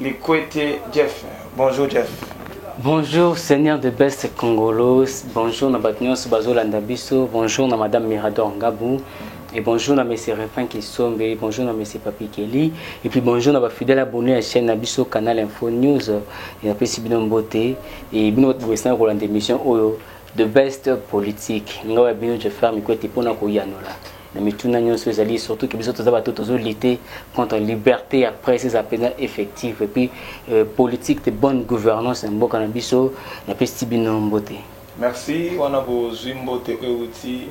Likwete Jeff. Bonjour Jeff. Bonjour Seigneur de Best Congolos, bonjour na bato nyonso bazolanda biso, bonjour na Madame Mirador Ngabu, et bonjour na Monsieur Refrain Kisombe, bonjour na Monsieur Papi Kelly, et puis bonjour na ba fidèles abonnés à chaîne na biso Canal Info News, et na pesi bino mbote, et bino bato bokesana kolanda émission oyo de Best Politique, ngawa bino je ferme kwete pona koyanola. na mituna nyonso ezali surtout ke biso toza bato tozo lutter contre liberté ya presse eza mpenza effective et puis euh, politique de bonne gouvernance na mboka na biso napesi bino mbote merci wana bozwi mbote oyo euti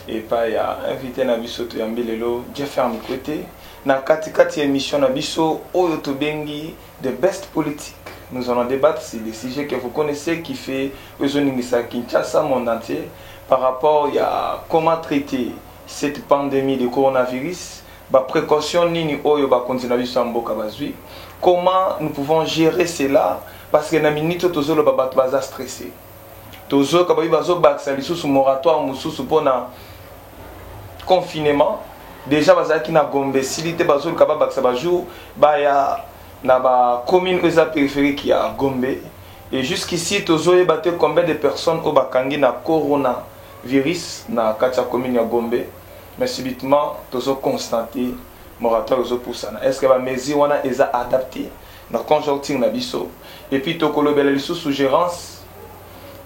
epai ya invité na biso toyambi lelo jeffer mikwete na katikati ya émission na biso oyo tobengi The best politique nous allons debattre sur des sujets que vous connaissez qui fait ezo ningisa Kinshasa monde entier par rapport ya comment traiter cette pandemie de coronavirus ba precautions nini oyo bakonzi na biso ya mboka bazwi comment nous pouvons gerer cela parce que na minute oyo tozoloba bato baza stresse Tozoyoka babi bazobakisa lisusu moratoire mosusu mpo na confinement. Deja bazalaki na Gombe esili te, bazoluka babakisa ba jours baya na ba commune oyo eza peripherique ya Gombe. Et jusqu'ici tozoyeba te combien de personnes oyo bakangi na corona virus na kati ya commune ya Gombe. Mais subitement tozo constater moratoire ezopusana. Est-ce que ba mesures wana eza adapter? na conjoncture na biso et puis toko lobela lisusu gerance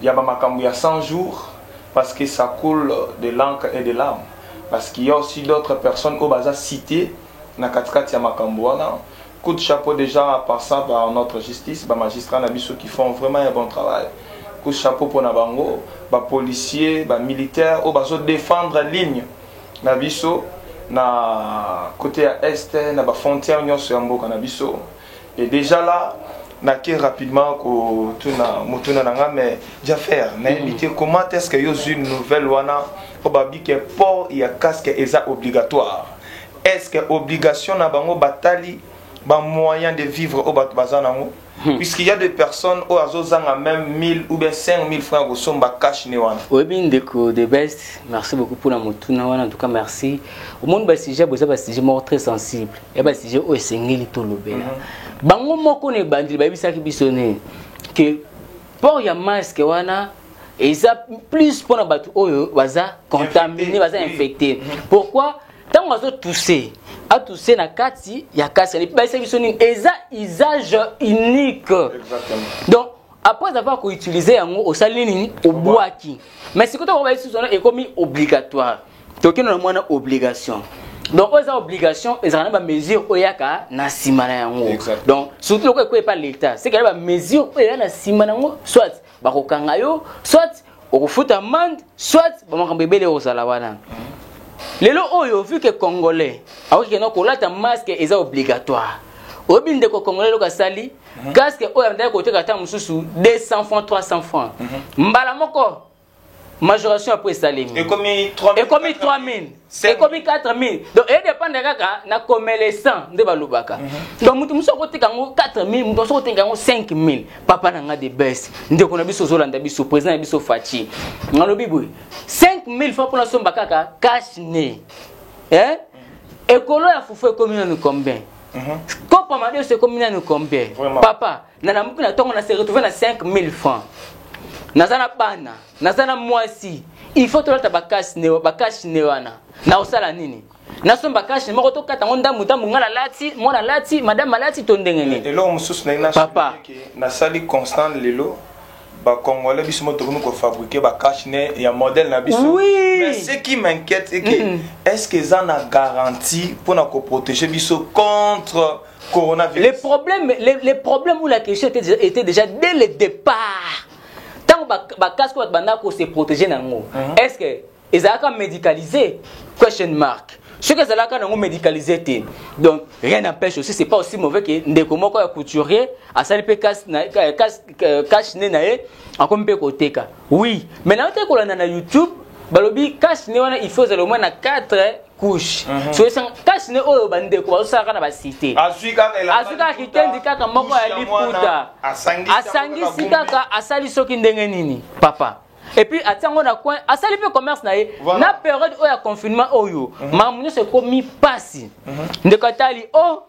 ya ba makambu ya 100 jours parce que ça coule de l'encre et de larmes parce qu'il ya aussi d'autres personnes oyo baza cite na kati kati ya makambu wana coup de chapeau dejà en passant par notre justice ba magistrats na biso qui font vraiment un bon travail coup de chapeau pona bango ba policiers ba militaires oyo bazo defendre ligne na biso na cote ya est na ba frontière nyonso ya mboka na biso et déjà là nake rapidement kotuna motuna na nga mais jafer nayebi te comment est ce que yo ozwi nouvelle wana mpo babi ke port ya casque eza obligatoire est ce que obligation na bango batali bamoyen de vivre oyo bato baza nango Hmm. puisqu'il y a des personnes oyo azozanga même 1000 ou bien 5000 francs ya kosomba cash ne wana oyebi ndeko the best merci beaucoup mpona motuna wana en tout cas merci omoni basujet boza basujet moko très sensible ya basujet oyo esengeli tolobela mhm. bango moko na ebandeli bayebisaki biso ne ke port ya masque wana eza plus mpona bato oyo baza contamine baza infecté mhm. pourquoi ntango azotuse atuse na kati ya kasi alepi bayesa biso nini eza usage unique donc après avoir koutilize yango osali nini obwaki mais sikoyo ntango bayesi biso ekomi obligatoire tokende na mwana obligation donc oyo eza obligation ezalaka na bamesure oyo eyaka na nsima na yango donc surtout lokola ekoya epa leta sekele bamesure oyo eya na nsima na yango soit bakokanga yo soit okofuta amande soit bamakambo ebele okozala wana lelo oyo vu ke congolais akoki kenda kolata masque eza obligatoire oyebi ndeko congolais eloko asali mhm. casque oyo andaki koteka ata mosusu 200 francs 300 francs mhm. mbala moko majoration après esalemi ekomi 3000 ekomi 3000 ekomi 4000 donc e dépendre kaka na commerçant nde balobaka mhm. donc moto mosusu akotika yango 4000 moto mosusu akotika yango 5000 papa na nga de best ndeko na biso ozolanda biso président na biso faci nalobi boye 5000 fois mpona somba kaka cash ne eh? ekolo ya fufu ekomi nanu combien mhm. kopo madeso ekomi nanu combien papa na lamuki na tongo na se retrouve na 5000 francs naza na bana naza na mwasi il faut tolata bakasi ne bakasi ne wana na osala nini nasomba kashe moko tokata yango ndambu ndambu ngai nalati mwana alati madame alati to ndenge nini eloko mosusu ndenge papa nasali constant lelo bacongolais biso mo tokomi kofabrike bacashe ne ya modèle na biso oui. mais ce qui m'inquiète eke mm -hmm. est ce que eza na garantie mpona koprotege biso contre Coronavirus. Le problème, le, le problème ou la question était, déjà- était déjà dès le départ. Tant que ba casque ou banda ko se protéger nango. Est-ce que ezalaka médicalisé? Question mark. Ce que ezalaka nango médicalisé te. Donc rien n'empêche aussi c'est pas aussi mauvais que ndeko moko ya couturier asali pe cash na cash cash ne na ye akomi pe koteka. Oui, mais na te kolanda na YouTube balobi cash ne wana il faut ezala moins na 4 couche mhm. soyesanga kasi nde oyo bandeko bazosalaka na basite azwi kaka kitendi kaka moko ya liputa asangisi kaka asali soki ndenge nini papa epuis atia yango na coin asali mpe commerce na ye na periode oyo ya confinement oyo mhm. makambo nyonso ekomi mpasi mhm. ndeko atali o oh,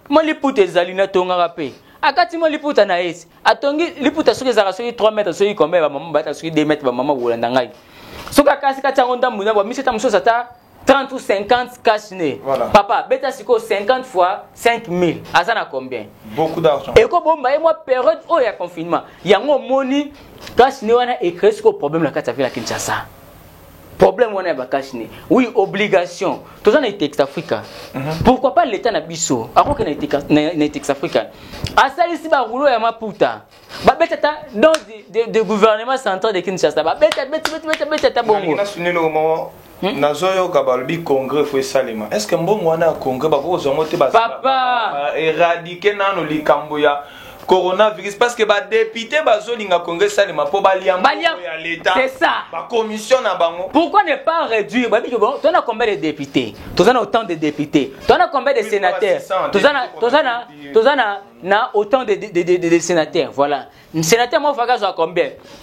Mwa liputa ezali na tongaka mpe akati mwa liputa na esi atongi liputa soki ezalaka soki 3 mètre soki kombe ya bamama bata soki 2 mètre bamama kolanda ngai soki akasi kati yango ndambu na bamisi ata mosusu ata 30 ou 50 cash ne voilà. papa beta sikoyo 50 fois 5000 aza na combien beaucoup d'argent ekobomba ye mwa période oyo ya confinement yango omoni cash ne wana ecree sikoyo problème na kati ya ville ya kinshasa problème wana ya bakasi ne oui obligation toza na etex africa mhm. pourquoi pas l'état na biso akoki na etex africa asalisi baroulo ya maputa babeta ata dans de, de, de gouvernement central de kinshasa babeta betibetabeta ata bongo Hmm? nazoyoka balobi congrès fo esalema est ce que mbongo wana ya congrès bakoki kozwa yango te papa eradike nano likambo ya coronavirus parce que ba député bazolinga congrès salema mpo balia ya leta bacommission na bango pourquoi ne pas réduire bayebi ke bon tozana combien de député toza na autant de député toza na combien de sénateur toza na autant de, de, de, de, de sénateur voilà sénateur moko faka azwa combien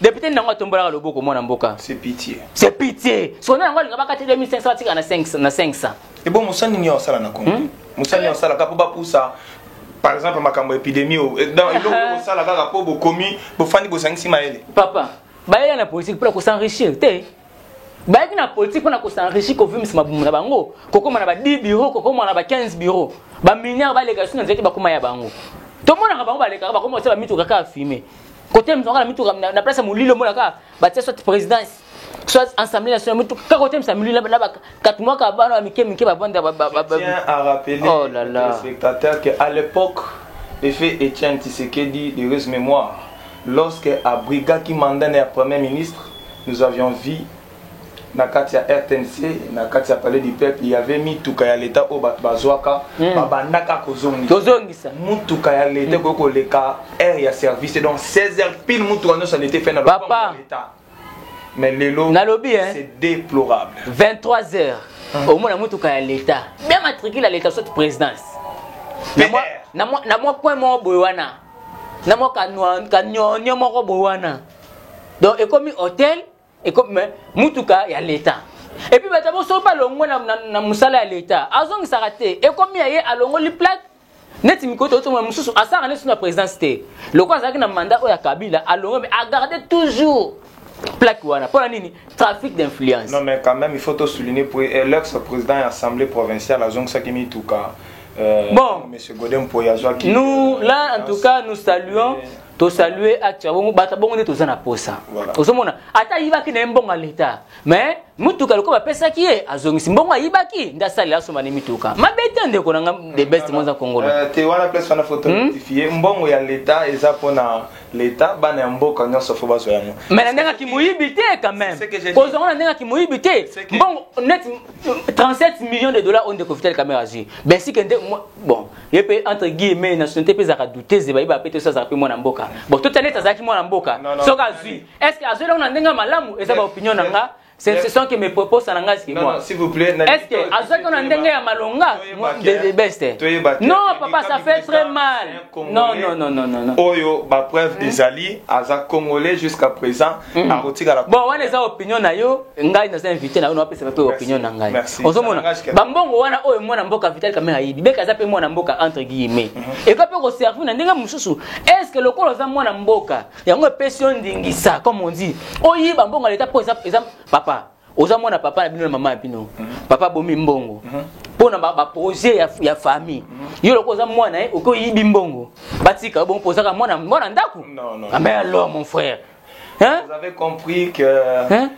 Depute nango atombolaka loboko mwana mboka. C'est pitié. C'est pitié. Sona nango alinga bakati 2500 batika na 500 na 500. Et bon mosani nini osala na Congo? Hmm? Mosani osala kapo bapusa par exemple makambo epidemie eh, dans eloko osala kaka po bokomi bofandi bosangisi mayele. Papa, bayela na politique pour ko s'enrichir te. bayaki na politique mpona kosenrichi kovimisa mabumu na bango kokóma na ba 10 bureau kokóma na ba 15 bureau baminiare baleka suna nzete bakóma ya bango tomonaka bango balekaka bakóma kosala bamituka kaka fume kote mzonga na mituka na place ya molili omona kaka batia soit présidence soit assemblée nationale mutu kaka kotemisa molili na bakatu mwaka bana ya mike mike bavanda oh là là spectateur que à l'époque de fait Etienne Tshisekedi de heureuse mémoire lorsque abrigaki mandat ya premier ministre nous avions vu na kati ya rtnc na kati ya palais du peuple y avait mituka ya leta oyo bato bazwaka mm. babandaka kozongisa motuka ya leta hmm. ekoki koleka aire ya service donc 16 heures pile motuka nyonso ya leta efai na lopango ya leta mais lelo nalobi c'est déplorable 23 heures hmm. omona motuka ya leta bien matricule ya leta soit présidence na mwa coin moko boye wana na mwa kanyonyo moko boye wana donc ekomi hôtel ekomi mutuka ya leta epuis bato yango soki balongwe na, na, na mosala ya leta azongisaka te ekomi ya ye alongoli plate neti mikolo totomona mosusu asalaka neti na présidence te lokola azalaki na mandat oyo ya kabila alongwe me agarde toujours plaque wana mpo na nini trafic d'influence non mais quand même il faut to souligner pour eh, l'ex président ya assemblée provinciale azongisaki mituka euh, bon monsieur godem mpoye azwaki nous euh, là en tout cas nous saluons tosalue acte ya bongo bato bongo nde toza na posa ozomona ata ayibaki na ye mbongo ya leta mais motuka lokola bapesaki ye azongisi mbongo ayibaki nde asalela asomba ne mituka mabe te ndeko na nga de best moza kongolo euh, te wana place wana foto hmm? rectifie mbongo ya leta eza mpona leta bana ya mboka nyonso fo bazwa yango mais na ndenge akimoyibi te quand même kozonga na ndenge akimoyibi te mbongo net 37 millions de dollars oyo ndeko vital kamera azwi bensike nde bon ye mpe entre guillemets nationalité mpe ezalaka doutese bayebaka mpe te soki azalaka mpe mwana mboka bon totya neti azalaki mwana mboka soki azwi est ce que azwi eloko na ndenge ya malamu eza baopinion na nga ce sont que mes propos na nga ski moi s'il vous plaît est ce que azwaki na ndenge ya malonga de best non papa ça fait très mal non non non non non oyo ba preuve ezali aza congolais jusqu'à présent Mm. akotikala bon wana eza opinion na yo ngai naza invité na yo napesaka mpe opinion na ngai ozomona bambongo wana oyo mwana mboka vital kame ayibi beka aza mpe mwana mboka entre guillemets mhm. ekoki mpe koservi na ndenge mosusu estce lokola oza mwana mboka yango epesi yo ndingisa comme on dit oyiba mbongo ya leta mpo eza papa oza mwana papa na bino na mama na bino papa abomi mbongo mpo na baprojet ya, ya famille yo loko oza mwana ye eh, okoki oyibi mbongo batika bongo mpo ozaka mwana mwana ndako ambe ah, alors mon frère Hein? Vous avez compris que hein?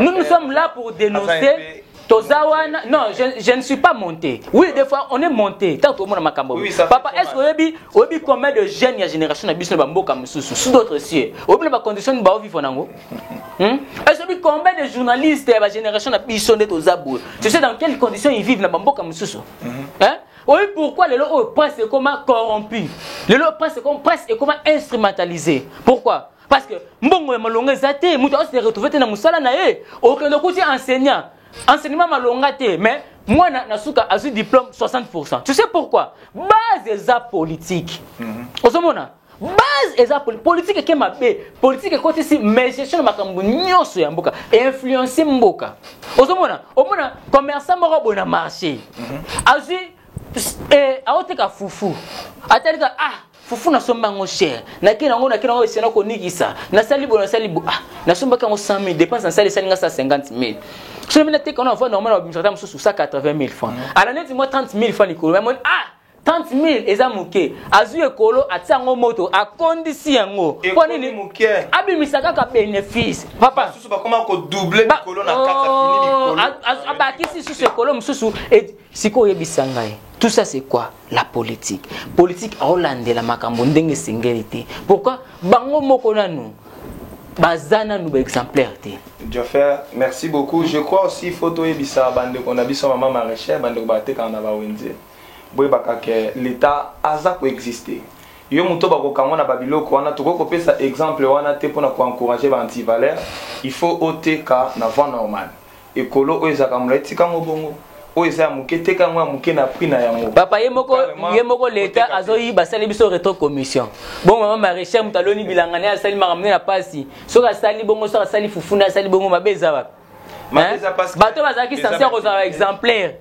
nous nous sommes là pour dénoncer Tozawana, non, je, je, ne suis pas monté. Oui, des fois, on est monté. Tant que mon makambo. Oui, Papa, est-ce que obi, obi combien de jeunes ya génération na biso na bamboka mususu, sous d'autres cieux. Obi na ba condition ba vivre nango. Hmm? ezobi combien de journalistes ya bagénération na biso nde toza boye tu sais dans quelles conditions ils vivent na bamboka mosusu mhm. hein? oyebi pourquoi lelo oyo presse ekoma corrompu lelo presse ekoma presse ekoma instrumentalisé pourquoi parce que mbongo ya malonga eza te moto aose retrouve te na mosala na ye okende okuti enseignant enseignement malonga te mais mwana na suka azwi diplôme 60 tu sais pourquoi base eza politique mhm. ozomona mm -hmm. base eza politique eke mabe politique ekotisi gestion na makambo nyonso ya mboka influence mboka ozomona omona commerçant moko boye na marché mhm. azwi eh, aoteka fufu atalika ah fufu nasomba yango cher nakei nango nakei nango esena konikisa nasali boye nasali bo ah nasombaki yango 100 000 dépense nasali esali nga 150 000 soki mina teka wana avanda omona babimisa ata mosusu 180 000 francs mhm. ala neti mwa 30 000 francs likolo amoni ah 30000 eza moke azwi ekolo atia yango moto akondisi yango mpo nini abimisa kaka benefice abakisi susu ekolo mosusu sikoyo oyebisa ngai tout ça c'est quoi la politique politique aolandela makambo ndenge esengeli te pourquoi bango moko nanu baza nanu baexemplaire te Joffer, merci beaucoup. Je crois aussi faut toyebisa bandeko na biso mama maraîchère bandeko batekaka na bawenze. boyebaka ke l'etat aza ko existe yo moto oyo bakokangwa na babiloko wana tokoki kopesa exemple wana te pona ko encourager ba antivaleur il faut oteka na vent normal ekolo oyo ezalaka mulayi tika yango bongo oyo eza ya moke teka yango ya moke na prix na yango papa ye moko ye moko l'etat azoyiba asali biso retro commission bongo mama marechal moto aloni bilanga naye asali makambo nde na pasi soki asali bongo soki asali fufuna asali bongo mabe eza wapi bato bazalaki sense ya kozala exemplaire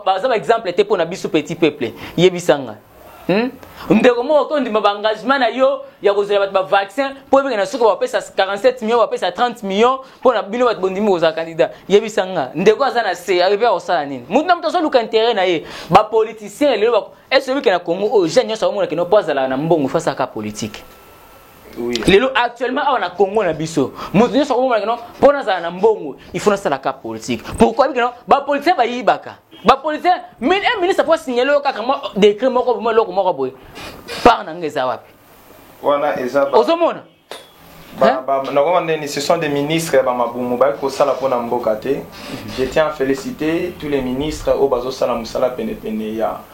baza baexemple te mpo na biso petit peuple yebisanga hmm? ndeko moko okondima baengagement na yo ya kozela bato bavaccin mpo oyebeke na soki bapesa 47 million bapesa 30 million mpo na bino bato bondimi kozala kandida yebisa nga ndeko aza na se ayebi akosala nini motu na moto azoluka intere na ye bapoliticien lelo ese oyebike na congo oyo jeune nyonso aomonakeno mpo azalaka na mbongo fasaka politike lelo actuellement awa na congo na biso moto nyonso akomonaka no mpo nazala na mbongo ifo nasalaka politike pourkoi bike no bapolitien bayibaka bapolitien eh, ministre mpo asignale yo kaka mwa décret moko boma eloko moko boye part na nga eza wapi ozomona nakomba ndeni ce sont des ministres ya bamabumu baye kosala mpo na mboka te je tiens à féliciter tous les ministres oyo bazosala mosala penepene ya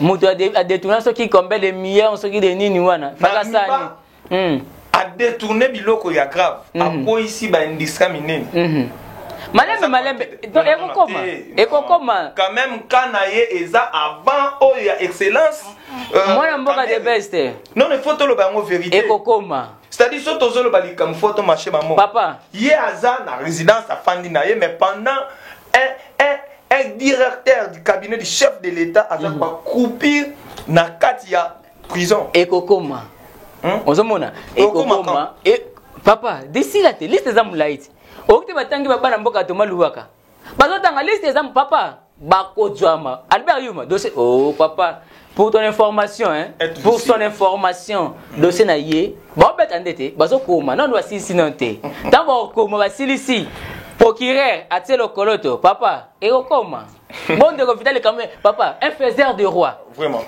moto adetourna soki combien de millions soki de nini wana fakasani hmm. adetourne biloko ya grave hmm. akweyisi baindistra minene hmm. malembe malembe ekokoma eh, ekokoma quand même ka na ye eza avant oyo ya excellence euh, mwana mboka de best non il faut toloba yango vérité ekokoma c'est-à-dire soki tozoloba likambo fo tomache bamonpapa ye aza na résidence afandi na ye mais pendant un, un, un directeur du cabinet du chef de l'État aza mm. bakroupir na kati ya prison ekokoma hmm? ozomona ekokoma e, papa desila te liste eza molai te okoki te batangi babana mboka toma luwaka bazotanga liste eza papa bakozwama albert yuma dose o oh, papa pour ton information hein, pour son information dossier na ye baobeta nde te bazokoma nano basilisi nano te ntango bakokoma basilisi procureur atie lokoloto papa ekokoma bon ndeko vitali quand même papa un faiseur de roi vraiment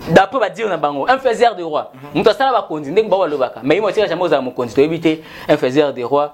d'après badire na bango un faiseur de roi mhm. moto asala bakonzi ndenge bango balobaka mais ye motika jamai ozala mokonzi toyebi te un faiseur de roi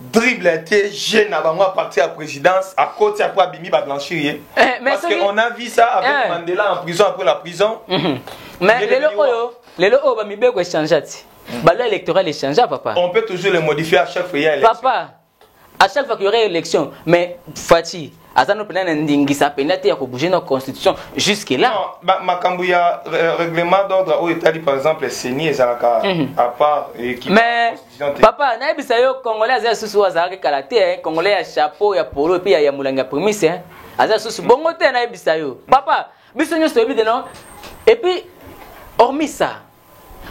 dribble te jeu na bango à partir ya présidence akoti après abimi ba blanchir ye eh, parce que on a vu ça avec eh. Mandela en prison après la prison mhm. mais lelo oyo lelo oyo ba mibeko echangea ti mhm. ba loi électorale echangea papa on peut toujours les modifier à chaque fois il y a élection papa à chaque fois qu'il y aurait élection mais Fatih aza no mpenza na ndingisa mpenza te ya kobouge na constitution jusque là makambo ya euh, règlement d'ordre oyo etali par exemple ceni ezalaka mhm. à part mais papa nayebisa yo congolais aza lisusu oyo azalaki kala te eh. congolais ya chapeau ya polo epuis ya molangi ya primise eh. aza lisusu bongo te nayebisa yo papa biso nyonso toyebi te non epuis hormis ça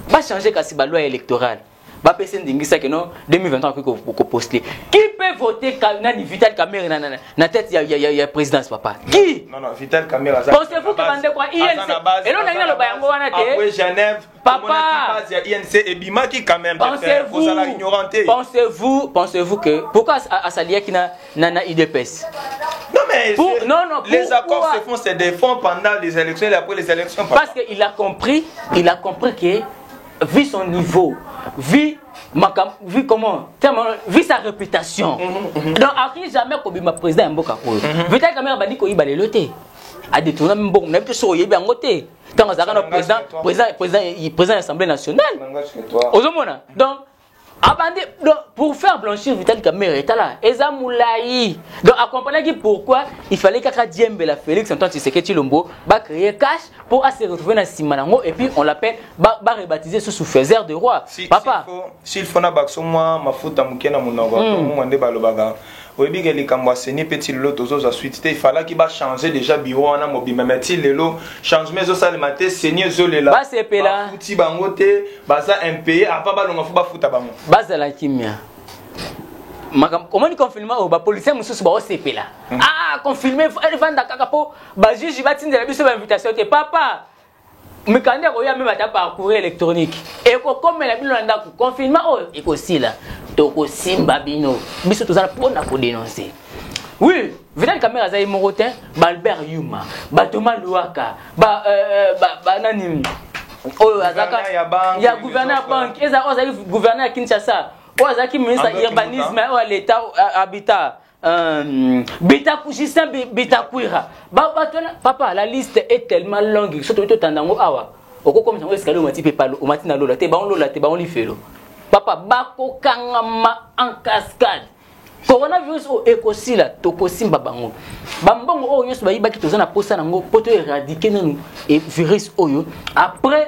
Ba changer kasi ba loi électorale. Ba pese ndingisa que non 2023 akoki ko, ko poster. Qui peut voter ka, nani Vital Kamerhe na, na, na, na tête ya, ya, ya, ya présidence papa? Qui? Non non, Vital Kamerhe aza. Pensez-vous que bande kwa INC elo na ngalo bayango wana te? Après Genève, papa base ya INC ebimaki quand même. Pensez-vous? Pensez-vous? Pensez-vous que pourquoi asaliaki na na, na udps Non, mais pour, je, non, non, les accords quoi? se font, c'est des fonds pendant les élections et après les élections. Papa. Parce qu'il a compris, il a compris que vu son niveau, vu makam vu comment tellement vu sa réputation mm -hmm, mm -hmm. donc akoki jamais kobima président ya mboka oyo mm -hmm. vitali kamere abandi koyiba lelo te adetourna mbongo na biso soki oyebi yango te ntango azalaka na président président président président ya assemblée nationale ozomona donc abandi ah, donc pour faire blanchir vital kamere tala eza mulayi donc akomprenaki pourquoi il fallait kaka diembela félix antoine tshiseke tshilombo bacreye cash mpo ase retrouve na nsima nango et puis on l'appelle barebaptise susu faiser de roi si, papa s'il faut na bakso mwa mafuta moke na monoko hmm. mwa nde balobaka oyebi ke likambo ya seni pe ti lelo tozozwa suite te ifalaki ba changer deja biro wana mobimba me ti lelo changement ezosalema te seni ezolela bafuti bango te baza impaye apa balonga fo bafuta bango bazala kimia omoni confinement oyo oh, bapolisier mosusu baosepela hmm. ah confinement efanda kaka mpo bajuge batindela biso bainvitation te papa mikanda ekoya meme ata par courrier électronique ekokomela bino na ndako confinement oyo ekosila tokosimba bino biso tozala mpo na kodenonse oui vidal kamere aza ye moko te baalbert yuma batoma luaka ba, euh, euh ba, ba nani oyo azaka ya gouverneur ya banke eza oyo azalaki gouverneur ya kinshasa oyo azalaki ministre ya urbanisme oyo ya leta habitat Euh, bitaku justin bitakuira bato wana papa la liste est tellement longue soki toki totanda yango awa okokomisa yango escalier omati mpe palo omati na lola te bango lola te bango lifelo papa bakokangama en cascade coronavirus oyo ekosila tokosimba bango bambongo oyo nyonso bayibaki toza na mposa na yango mpo to eradike nanu e virus oyo après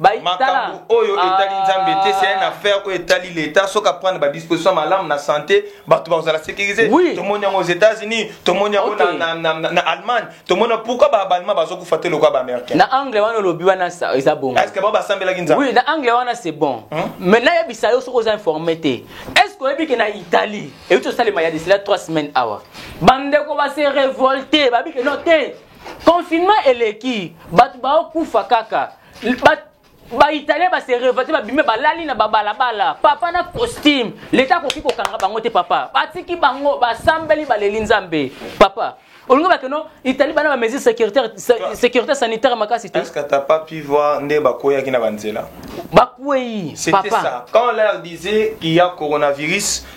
makambo oyo etali ah. nzambe te c'est une affaire oyo etali leta soki aprendre badisposition malamu na santé bato bakozala sécurise tomoni yango aux états-unis tomoni yango na allemagne tomoni pourquoi baallemand bazokufa te lokola baaméricain na anglais wana olobi wana eza bongo est ce que bao basambelaki nzambe oui na anglais wana c'est bon hmm? mais nayebisa yo soki oza informe te est ce que oyebi ke na italie euti osalema ya desila 3 semaines awa bandeko base révolte babike no te Confinement eleki bato bao kufa kaka bat baitalien base revate babimi balali na babalabala papa na costume leta akoki kokanga bango te papa batiki bango basambeli baleli nzambe papa olingi bakeno italie bana bamesure sécurité sanitaire makasi te est-ce que t'as pas pu voir nde bakweyaki na banzela bakwei papa quand on leur disait qu'il y a coronavirus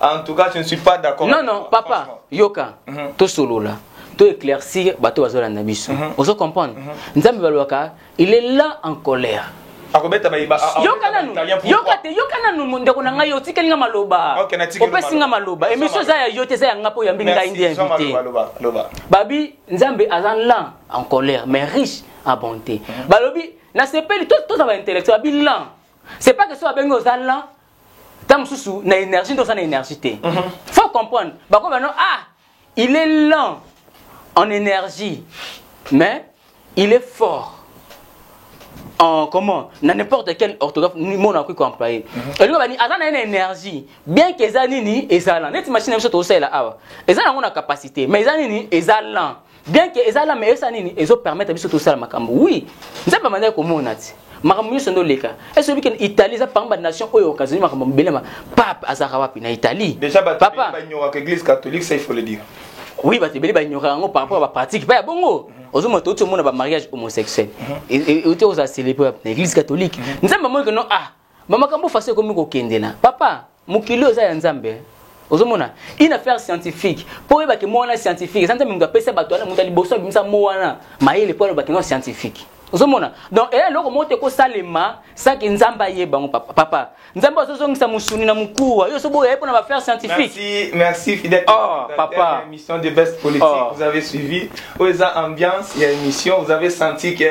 En tout cas, je ne suis pas d'accord. Non, non, papa, Yoka, mm -hmm. tout solo là. to éclaircir bato bazolanda biso mhm. ozo comprendre mhm. nzambe balobaka il est là en colère akobeta bayiba yoka nanu yoka te yoka nanu ndeko na ngai otikeli nga maloba opesi nga maloba emission eza ya yo te eza ya nga mpo oyambi ngai nde invité babi nzambe aza lent en colère mais riche en bonté mhm. balobi nasepeli toza baintellectuel babi lent c'est pas que so babengi oza lent ntango mosusu na énergie nde oza na énergie te mhm. faut comprendre bakomi bano ah il est lent en énergie mais il est fort en comment na n'importe quel orthographe mot nakoki koemploye mhm. elingo bani aza na ye na énergie bien que eza nini eza lent neti machine na biso tozosalela awa eza nango na capacité mais eza nini eza lent bien que eza lama esa nini ezo permettre biso tosala makambo oui nzambe amandaki komona ti makambo nyonso nde oleka ese oyebi kende italie eza parmi banation oyo okazoni makambo mobele ma pape azalaka wapi na italie papa oui bato ebele banyoraka yango par rapport ya bapratique mpe ya bongo mhm. ozomona touti omona bamariage homosexuel euti mhm. ozala célébré na église catholique mhm. nzambe amoni keno ah ba makambo fasi ekomi kokende na papa mokili oza ya nzambe eh. ozomona une affaire scientifique mpo oyebake mo wana scientifique eza nzambe moto apesa bato wana moto ya liboso abimisa mo wana mayele mpo alobake no scientifique ozomona donc eya eloko moko te ekosalema saki nzambe ayeba yango papa, papa. nzambe azozongisa mosuni na mokuwa yo sobo oyaye mpo na bafaire scientifique merci, merci fidèle oh, papa émission de best politique oh. vous avez suivi oyo eza ambiance ya émission vous avez senti que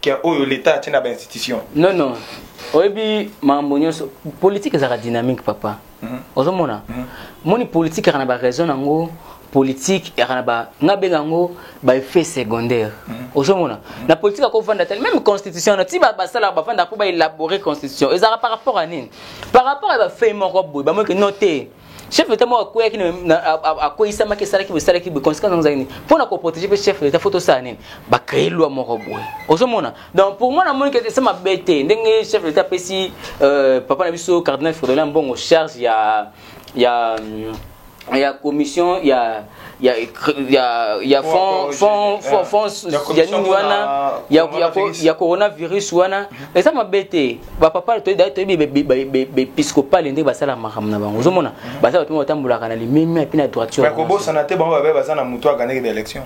ke oyo leta atie na ba institution non non oyebi makambo nyonso politike ezalaka dynamique papa mm -hmm. ozomona mm -hmm. moni politike yaka na baraison yango politique yaka na ba nga benga yango baeffet secondaire mm -hmm. ozomona mm -hmm. na politike akovanda te meme constitution na ti basalaka bavandaka mpo baélabore constitution ezalaka par rapport ya nini par rapport ya bafei moko boye bamoyeke no te chef de l'etat moko akweyaki akweyisamaki esalaki boye esalaki boye conséquence yango ezalaki nini mpo na koprotege mpe chef de l'etat fo tosala nini bacreye loi moko boye ozomona donc pour moi namoni kete esa mabe te ndenge chef de l'etat apesi euh, papa na biso cardinal fridolin mbongo charge ya ya ya commission ya ya ya ya fond fond fond fond ya nini wana ya ya ya coronavirus wana mhm. eza mabe te ba papa to da to bi be episcopal ndenge basala makambo na bango ozomona mhm. baza bato batambolaka na limemi mpe na droiture bakobosana te bango babe baza na moto akanaki ba élection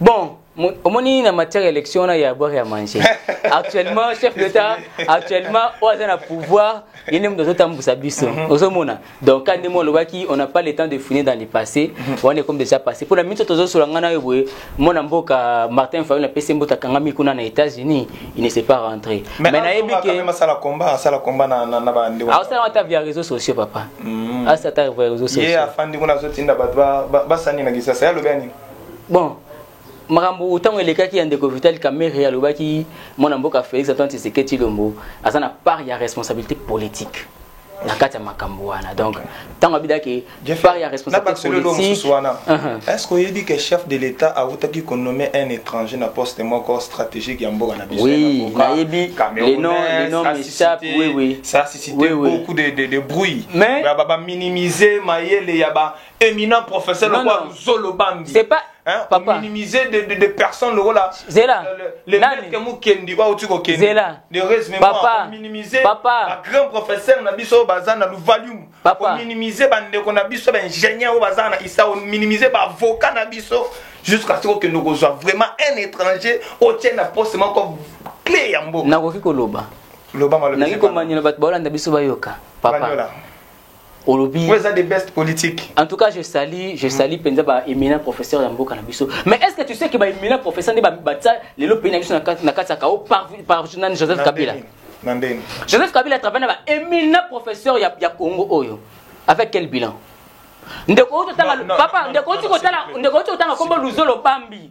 bon omoni na matière ya élection wana ya boire ya manger actuellement chef d'état actuellement oyo aza na pouvoir ye nde moto azotambusa biso mhm. ozomona donc ka ndenge olobaki on n'a pas le temps de fouiner dans le passé mhm. wana ekomi déjà passé mpo na miso tozosola ngai nayo boye mwana mboka martin fayol apesi mboto akangami kuna na états-unis il ne s'est pas rentré mais nayebi keasala combat asala combat na bandeko asala ata via réseaux sociaux papa mhm. asala ata via réseaux sociaux ye afandi kuna azotinda bato basani na kisasa ye alobia nini bon makambo ntango elekaki ya ndeko vital kamere alobaki mwana mboka félix antoine tshisekedi tshilombo aza na part ya responsabilité politique na kati ya makambo wana donc ntango abidaki part ya responsabilitépolitique wana uh-huh. est ce que oyebi ke chef de l'état awutaki konome un étranger na poste moko stratégique ya mboka na biso oui nayebi le nom le nom m'échappe oui oui ça suscité oui, oui. beaucoup de de, de bruit mais ba ba minimiser mayele ya ba éminent professeur non, lokola luzolo bambi c'est pas hein, papa minimiser des de, de personnes lokola zela le maître mukendi ba uti kokendi zela de résumé papa minimiser papa ba grand professeur na biso baza na luvalium papa minimiser ba ndeko na biso ba ingénieur baza na isa minimiser ba avocat na biso jusqu'à ce que nous soit vraiment un étranger au tient na poste moko clé ya mboka nakoki koloba loba maloba nakoki komanyela bato baolanda biso bayoka papa Banyola. olobi eza the best politique en tout cas je salue je salue penza ba éminent professeur ya mboka na biso mais est-ce que tu sais que ba éminent professeur nde ba batsa lelo pays na biso na kati na kati ya kao par par nan Joseph Kabila na ndenge Joseph Kabila travaille na ba éminent professeur ya ya Congo oyo avec quel bilan ndeko oyo totanga papa ndeko oyo totanga ndeko oyo totanga kombo luzolo bambi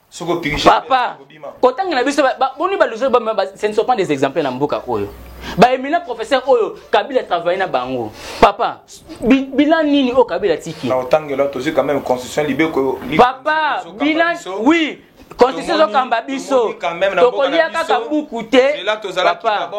papa kotangela biso boni baluso ce ne sont pas des exemples na mboka oyo baemina professeur oyo kabila travaille na bango papa bilan nini oyo kabila tiki papa bilan oui constitution ezokamba biso tokolia kaka buku te papa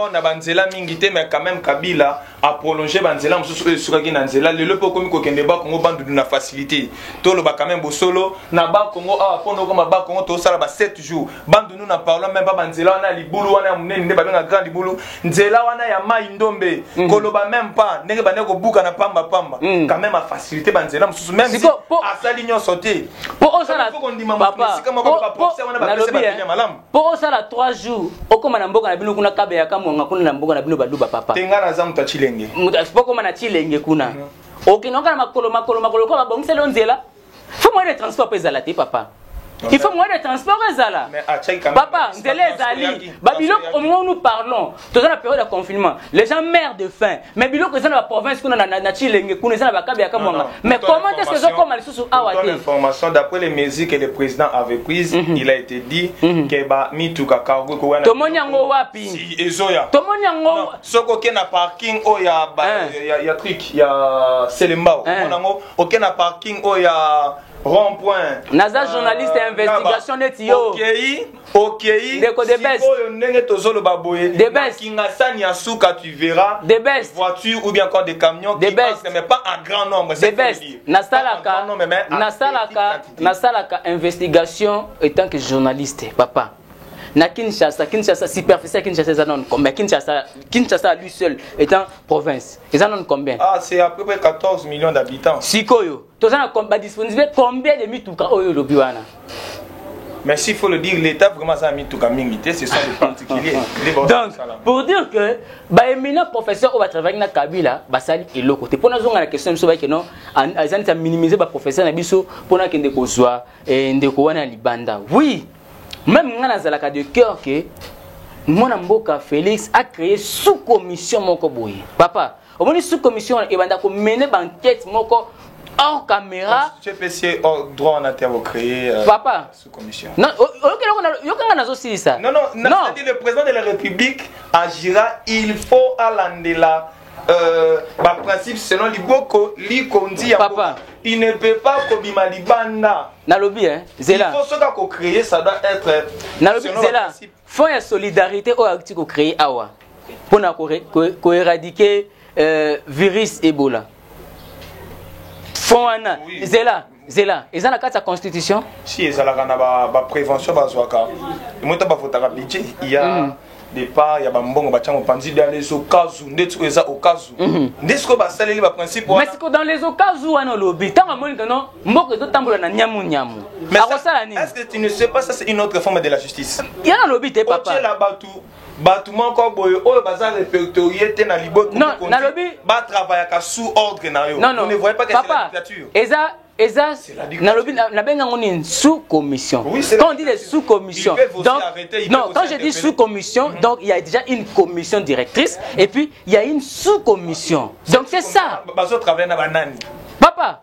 a prolonger ba nzela mosusu oyo esukaki na nzela lelo mpe okomi kokende ba Congo bandudu na facilité toloba quand même bosolo na ba Congo awa mpo nokoma ba Congo tosala ba 7 jours bandundu na parlant même ba nzela wana ya libulu wana ya monene nde babenga grand libulu nzela wana ya mai ndombe mm. koloba même pas ndenge bande kobuka na pamba pamba mm. quand même a facilité ba nzela mosusu même si asali nyonso te mpo osala kondima mosika moko ba procès wana ba pesa ba eh. malamu po osala 3 jours okoma na mboka na bino kuna kabe ya kamwanga kuna na mboka na bino baluba papa tenga na za moto ya cilenge moto okoma na cilenge kuna mm. okende oka na makolo makolo makolo ko babongiseli yo nzela fo moyen de transport mpe ezala te papa il faut moyen de transport ezala papa nzela ezali babiloko omoi nous parlons toza na periode ya confinement les gens mère de fin mais biloko eza na ba province kuna na, na, na chilenge kuna eza na bakabe ya kamwanga mais comment est-ce que ezokoma lisusu awa te information d'après les mesures que le président avait prise mm -hmm. il a été dit mm -hmm. que ba mituka cargo ko wana tomoni yango wapi si ezoya tomoni yango soko ke na parking o ya ba, eh. ya, ya trick ya selembao eh. mona ngo oke na parking o ya rond point naza euh, journaliste ya investigation neti yo okei okei ndeko de best sikoyo ndenge tozoloba boye de best kingasani ya suka tu verras de best voiture ou bien encore des camions de qui best mais pas en grand nombre de best nasalaka nasalaka nasalaka investigation étant que journaliste papa na Kinshasa Kinshasa superficie ya Kinshasa eza nano combien Kinshasa Kinshasa lui seul étant province eza nano combien ah c'est à peu près 14 millions d'habitants sikoyo toza na ba disponible combien de mituka oyo olobi wana mais s'il faut le dire l'état vraiment aza na mituka mingi te ce sont des particuliers donc pour dire que baéminent professeur oyo batravaki na kabila basali eloko te mpo nazonga na question na biso bayeke non aza neti aminimize baprofesseur na biso mpo nakende kozwa eh, ndeko wana ya libanda oui même ngai nazalaka de cœur que mwana mboka félix acréé sous commission moko boye papa omoni sous commission wana ebanda komene bankete moko hors caméra cpc oh, droit wana te akocree euh, papa sous commission yokanga nazosilisa non non nadi le président de la république agira il faut alandela euh, baprincipe selon liboko likonzi ya papa il ne peut pas kobima libanda nalobi eh, zela il faut soki akocree ça doit être nalobi zela Fonds ya solidarite oyo akuti ko créer awa pona ko, ko, ko éradiquer euh, virus Ebola. Fonds wana oui. zela zela eza na kati ya constitution si ezalaka na baprévention ba bazwaka emota bavotaka budget ya mm. départ ya bambongo batya mopanzi bya les okazu ndeti oyo eza okazu mhm. nde sikoyo basaleli baprincipe wana siko dans les okazu wana olobi ntango amoni kano mboka ezotambola na nyamu nyamu akosala nini est-ce que tu ne sais pas ça c'est une autre forme de la justice ya nalobi te papa otyela bato bato moko boye oyo baza répertorié te na liboti nalobi batravayaka sous ordre na yo ne voyez pas que c'est la dictature eza eza nalobi nabenga yango nini sous commission oui, quand on dit des sous commission donc arrêter, non quand je dis sous commission mm-hmm. donc il y a déjà une commission directrice et puis il y a une sous commission donc c'est ça bazo travailler na banani papa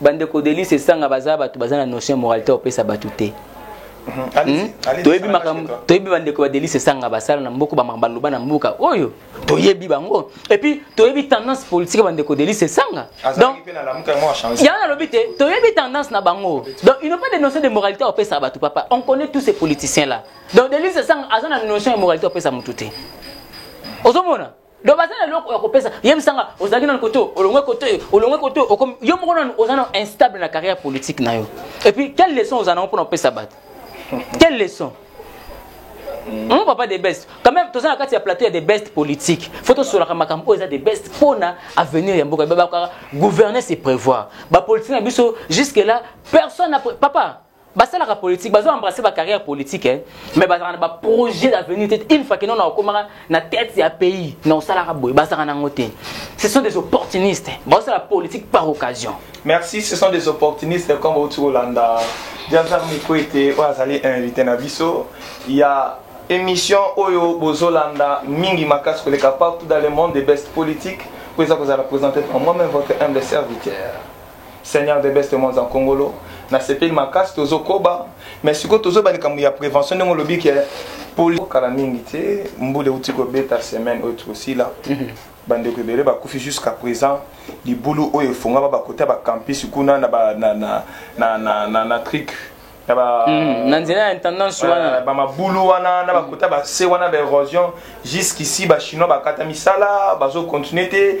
bandeko delise esanga baza bato baza na notion ya moralité ya kopesa bato te mhm. hmm? toyebi makambo toyebi bandeko ya delise esanga basala na mboka bamaka baloba na mboka oyo toyebi bango epuis toyebi tendance politique ya bandeko delise esanga donc yango nalobi te toyebi tendance na bango donc il ne pas de notion de moralité opesa bato papa on connaît tous ces politiciens là donc delise esanga aza na notion ya moralité opesa motu te ozomona donc baza na eloko ya kopesa yebisa nga ozalaki nano kote olongwe kote olongwe kote okomi yo moko nano oza na instable na carrière politique na yo et puis quelle leçon oza nango mpona kopesa bato quelle leçon Mm. Mon papa des best. Quand même, tous les cas, il y a plateau, il y a des best politiques. Faut tous sur la makambo, oh, il y a des best pour na avenir ya mboka. Baba gouverner c'est prévoir. Ba politique na biso jusque là, personne n'a papa basalaka politique bazo embrasser ba carrière politique hein? mais bazalaka na ba projet d'avenir te une fois que non na okomaka na tête ya pays na osalaka boye bazalaka nango te ce sont des opportunistes bazosala politique par occasion merci ce sont des opportunistes comme outi kolanda diazar mikwete oyo azali invité na biso ya émission oyo bozolanda mingi makasi koleka partout dans le monde des best politiques mpo eza kozala présenté par moi-même votre humble serviteur Seigneur de best monza nkongolo nasepeli makasi tozokoba mais sikoyo tozoba likambo ya prévention ndenge olobi ke poli kala mingi te mbula euti kobeta semaine oyo tokosila mhm. bandeko ebele bakufi jusqu'à présent libulu oyo efongama bakota ya bacampus kuna na, ba, na, na, na, na, na, na trique Hmm, na nzela ya intendance wana bamabulu wana na bakota base wana baérosion jusqu'ici bachinois bakata misala bazocontinue te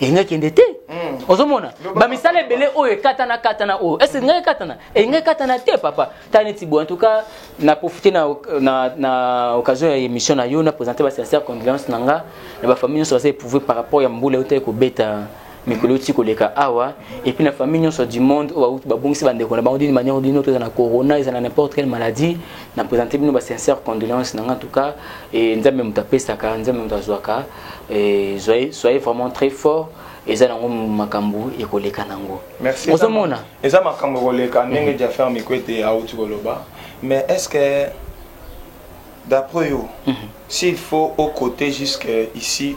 elingi akende te hmm. ozomona bamisala ebele oyo ekatana katana oyo ese elingi ekatana elingi ekatana te papa ta neti boye entouka na profite na, na, na occasion ya émission na yo na présente basincère condoléance na nga na bafamille nyonso baza éprouve par rapport ya mbula eutaki kobeta mikolo euti koleka awa epuis na famille nyonso du monde oyo bauti babungisi bandeko na bango dini manière dini oyo eza na corona eza na n'importe quelle maladie na présente bino basincère condoléance na nga en tout cas e nzambe moto apesaka nzambe moto azwaka Eh, soyez, soyez vraiment très fort eza nango makambo ekoleka nango ozomona eza makambo ekoleka ndenge mhm. jaffer mikwete auti koloba mais est ce que d'après yo mhm. s'il faut au côté jusque ici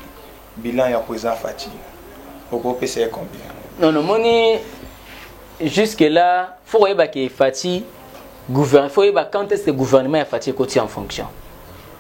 bilan ya président fati okopesa ye combien non nomoni jusque là fo koyeba ke fati fo koyeba quand est ce que gouvernement ya fati ekoti en fonction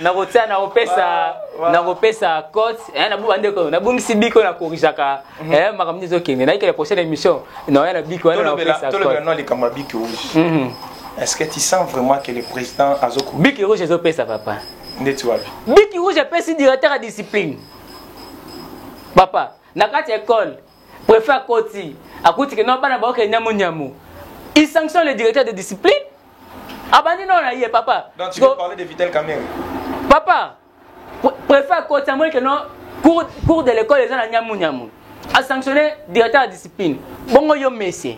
nakotia nakopesa ah, nakopesa cote eh, nabuba ndeko nabungisi biko na korijaka mhm. eh, makambo nde ezokende nayikela prochaine émission naoya na biko wana nakopesa tolobela nwa likambo ya biki rouge mhm. est ce que tu sens vraiment que le président azoko biki rouge ezopesa papa ndeti wapi biki rouge apesi directeur ya discipline papa na kati ya école Prefet akoti akuti ke non bana baoke nyamu nyamu. Il sanctionne le directeur de discipline. Abandi non na ye papa. Donc tu veux parler de Vital Kamerhe. Papa, prefet akoti amoni ke non cours cours de l'école eza na nyamu nyamu. A sanctionner directeur de discipline. Bongo yo monsieur.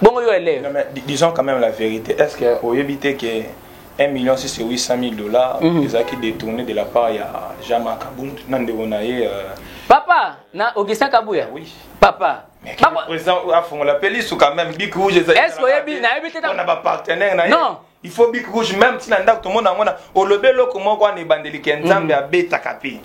Bongo yo élève. Non mais disons quand même la vérité. Est-ce que oyebite ke 1 million 6 et 800 000 dollars mm. ezalaki détourné de la part ya Jama Kabund na ndeko na ye euh... papa na Augustin Kabuya oui papa afongola mpe lisu quand même bik rouge ezaliesque oyebi nayebi te na bapartenaire na ye non il faut bik rouge même ntina ndako tomona yango na olobi eloko moko wana ebandeli ke nzambe mm. abetaka mpe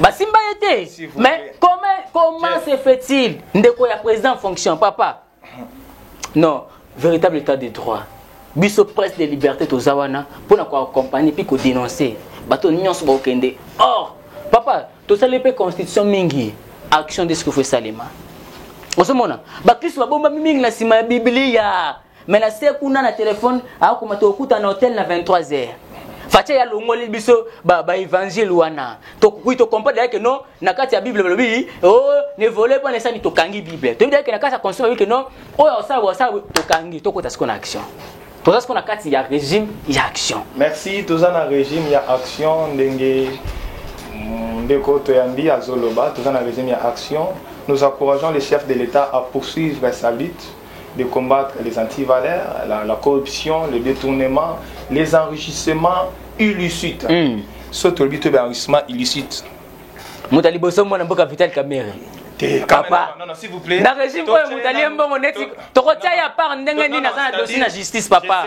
basimba ye te mais comment comment se fait-il ndeko ya président en fonction papa non véritable état de droit biso presse de liberté toza wana mpo na koaccompagne mpe kodénonce bato nyonso bakokende or papa tosali mpe constitution mingi action de ce qu'il faut esalema ozomona bakristo babombami mingi na nsima ya biblia mais na se kuna na telefone akoma tokokutana na hotel na 23 heures fache ya longoli biso baevangile ba wana tokoki tokomprendre yake no na kati ya bible balobi o oh, ne vole mpo nesani tokangi bible toyebi yake na kati ya conscience balobi ke no oyo osala osala tokangi tokota siko na action toza siko na kati ya régime ya action merci toza na régime ya action ndenge mm, ndeko toyambi azoloba toza na régime ya action nous encourageons les chefs de l'état à poursuivre sa lutte de combattre les antivaleurs, la, la corruption, le détournement, les enrichissements illicites. Mm. Sauf que le enrichissement illicite. moto ya liboso mwana mboka vital kamere papa na régime oyo moto alie mbongo neti tokotia ya part ndenge nini aza na dosi na justice papa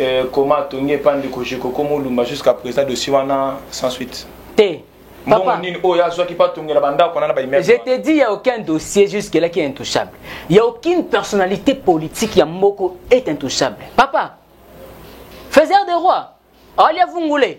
Euh, comment atongi epa ndeko jeko koma olumba jusqu'à présent dossier wana sans suite te mbongo nini oyo azwaki mpo atongela bandako wana na baimmeuble je te dis ya aucun dossier jusque là qui est intouchable ya aucune personnalité politique ya mboko est intouchable papa faiseur de roi alia vungule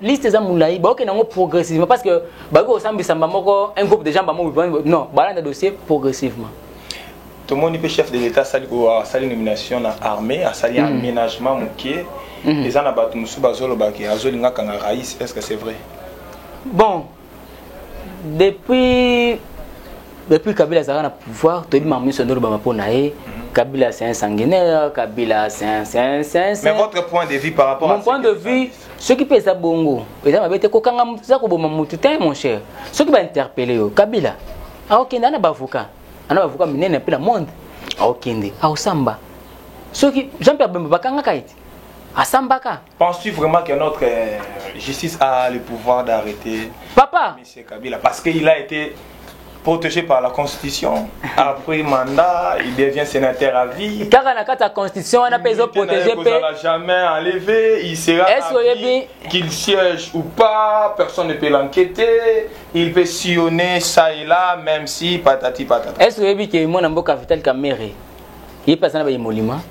liste eza mulayi baokende yango progressivement parce que bakoki kosambisa mba moko un groupe de gens bamo non balanda dossier progressivement tomoni mpe chef de l'état asali asali nomination na armée asali mm. aménagement moke mm. eza na bato mosusu bazolobaki azolinga akanga rais est ce que c'est vrai bon depuis depuis kabila azalaka na pouvoir toyebi makambo nyonso ndolobama mpo na ye mm. Kabila, c'est un sanguinaire. Kabila, c'est un, c'est un, c'est un, Mais votre point de vue par rapport Mon à point de vue, soki mpe eza bongo eza mabe te kokanga moto eza koboma motu te mon cher soki bainterpele yo kabila aokende ana bavoka ana bavoka minene mpe na monde aokende aosamba soki jean pierre bemba bakangaka ete asambaka penses-tu vraiment que notre euh, justice a le pouvoir d'arrêter papa C'est Kabila, parce qu'il a été protégé par la constitution après mandat il devient sénateur à vie kaka na kati ya constitution wana mpe ezoprotege mpe jamais enlevé il sera oyebi qu'il siège ou pas personne ne peut l'enquêter il peut sillonner ça et là même si patati patata est ce oyebi ke mwana mboka vital kamere ye mpe aza na bayemoliments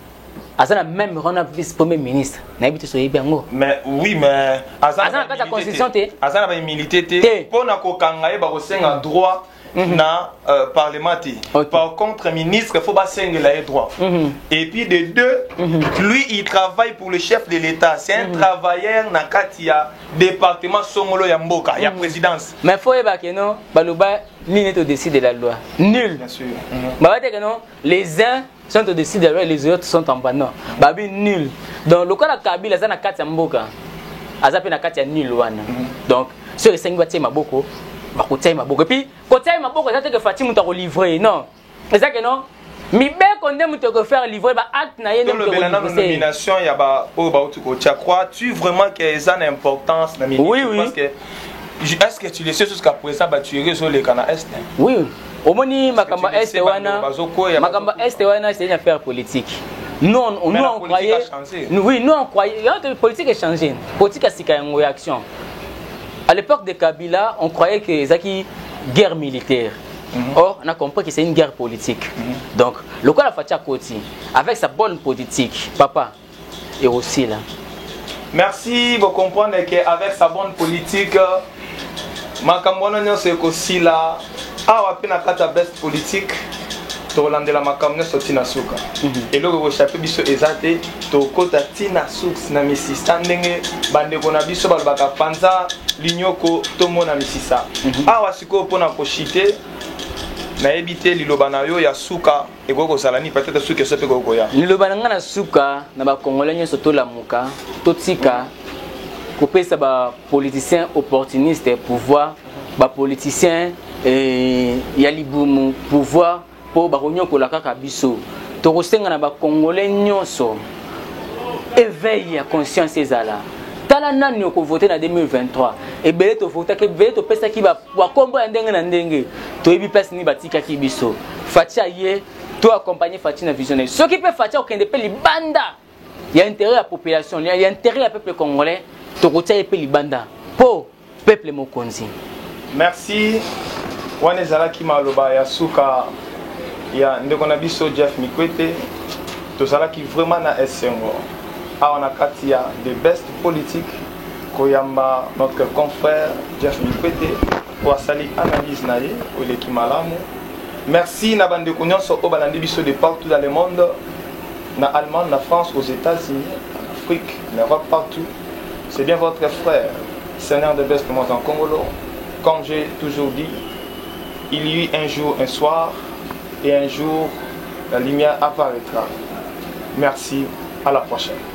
aza na meme wana vice premier ministre nayebi te soyebi yango mais oui mais aza na kati ya constitution te aza na baimilité te mpo na kokanga ye bakosenga droit mhm. na euh, parlement te okay. par contre ministre faut basengela ye droit mm -hmm. et puis de deux mm -hmm. lui il travaille pour le chef de l'état c'est un mm -hmm. travailleur na kati ya département songolo ya mboka mm -hmm. ya mhm. présidence mais faut yeba ke no baloba nini todeside la loi nul mm -hmm. babateke no les uns centre de sida ouais, les autres sont en banant babi nul donc lokola kabila aza na kati ya mboka aza mpe na kati ya nul wana mhm. donc soki esengi batie maboko bakotia ye maboko epuis kotia ye maboko eza te ke fati moto akolivre non eza ke non mibeko nde moto ekofaire livre baacte na ye tolobela nano nomination ya baoyo bauti kotia crois tu vraiment ke eza na importance na mingi oui, oui. parce que est ce que tu le sais jusqu'à présent batuerie ezoleka na est oui omoni makambo ya este wana makambo ya este wana ezali na affaire politique nous on, nous on croyait nous, oui nous on croyait politique est changée politique ya sika yango ya action à l'époque de Kabila on croyait que ezaki guerre militaire Mm -hmm. Or, on a compris que c'est une guerre politique. Mm -hmm. Donc, le quoi la fatia Koti, avec sa bonne politique, papa, ekosila. Merci bo comprendre que avec sa bonne politique makambo wana nyonso ekosila awa mpe na kati ya best politique tokolandela makambo nyonso ti na suka mhm. eloko ekoshape biso eza te tokota ti na source na misisa ndenge bandeko na biso balobaka panza linyoko tomona misisa mhm. awa sikoyo mpo na koshite nayebi te liloba na yo ya suka ekoki kozala nini peut-être suki esa mpe ekoki koya liloba na ngai na suka na bakongole nyonso tolamuka totika kopesa bapoliticien opportuniste pouvoir bapoliticien eh, ya libumu pouvoir mpo bakonyokola kaka biso tokosenga na bakongole nyonso éveil ya conscience ezala tala nani okovote na 2023 ebele tovotaki ebele topesaki ba Wa kombo ya ndenge na ndenge. Toyebi place nini batikaki biso. Fatshi aye to accompagner Fatshi na vision na ye. Soki pe Fatshi akende pe libanda ya intérêt ya population, ya intérêt ya peuple congolais, tokotia ye pe libanda. Po peuple mokonzi. Merci. Wana ezalaki maloba ya suka ya ndeko na biso Jeff Mikwete. Tozalaki vraiment na esengo awa na kati ya the best politique koyamba notre confrère Jeff Mikwete mpo asali analyse na ye oyo eleki malamu merci na bandeko nyonso oyo balandi biso de partout dans le monde na allemagne na france aux états-unis en afrique na europe partout c'est bien votre frère seigneur de best moi en congolo comme j'ai toujours dit il y eut un jour un soir et un jour la lumière apparaîtra merci à la prochaine